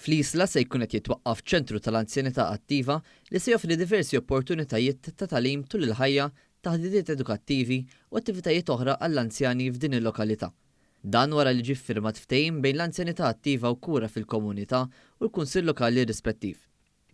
Fl-Isla se jkun qed jitwaqqaf ċentru tal-anzjanità attiva li se joffri diversi opportunitajiet ta' tagħlim tul il-ħajja, taħditiet edukattivi u attivitajiet oħra għall-anzjani f'din il-lokalità. Dan wara li ġie ffirmat ftehim bejn l-Anzjanità Attiva u Kura fil-Komunità u l-Kunsill Lokali rispettiv.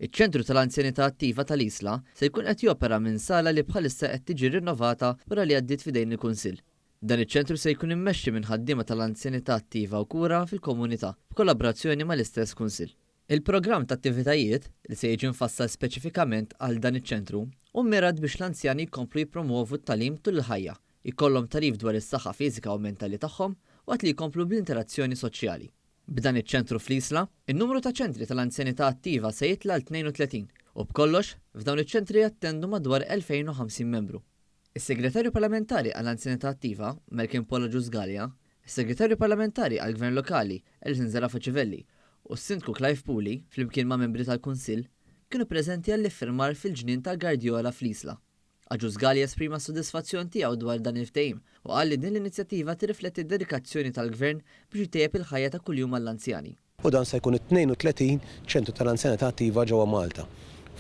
Iċ-Ċentru tal-Anzjanità Attiva tal-Isla se jkun qed jopera minn sala li bħalissa qed tiġi rinnovata wara li għaddiet f'idejn il-Kunsill. Dan iċ-ċentru se jkun immexxi minn ħaddiema tal-Anzjanità Attiva u Kura fil-Komunità, b'kollabrazzjoni mal-istess Kunsill. Il-programm ta' attivitajiet, li se jiġi mfassal speċifikament għal dan iċ-ċentru, hu mmirat biex l-anzjani jkomplu jippromwovu t-tagħlim tul il-ħajja, jkollhom tagħrif dwar is-saħħa fiżika u mentali tagħhom waqt li jkomplu bl-interazzjoni soċjali. B'dan iċ-ċentru fl-Isla, in-numru ta' ċentri tal-anzjanità attiva se jitla' għal 32, u b'kollox, f'dawn iċ-ċentri jattendu madwar 2,050 membru. Is-Segretarju Parlamentari għall-Anzjanità Attiva, Malcolm Paul Agius Galea, Is-Segretarju Parlamentari għall-Gvern Lokali, Alison Zerafa Civelli, u s-Sindku Clive Puli, flimkien ma' membri tal-Kunsill, kienu preżenti għall-iffirmar fil-ġnien ta' Guardiola fl-Isla. Agius Gali esprima s-sodisfazzjon tiegħu dwar dan il-ftehim u qal li din l-inizjattiva tirrifletti d-dedikazzjoni tal-Gvern biex itejjeb il-ħajja ta' kuljum għall-anzjani. u dan se jkun it-32 ċentru tal-anzjanità attiva ġewwa Malta.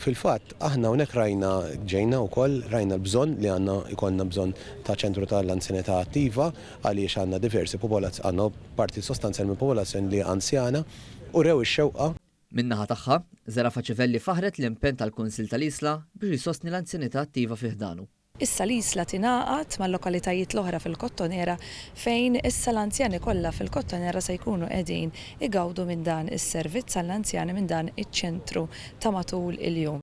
Fil-fatt, aħna hawnhekk rajna, ġejna wkoll, rajna l-bżonn li għandna jkollna bżonn ta' ċentru tal-anzjanità attiva għaliex għandna diversi popolazz-, għandna parti sostanzjali mill-popolazzjoni li hija anzjana, u rew ix-xewqa. Min-naħa tagħha, Zerafa Civelli faħħret l-impenn tal-Kunsill tal-Isla biex jsostni l-anzjanità attiva fi ħdanu. Issa l-Isla tingħaqad mal-lokalitajiet l-oħra fil-Kottonera fejn issa l-anzjani kollha fil-Kottonera se jkunu qegħdin igawdu minn dan is-servizz għall-anzjani minn dan iċ-ċentru ta' matul il-jum.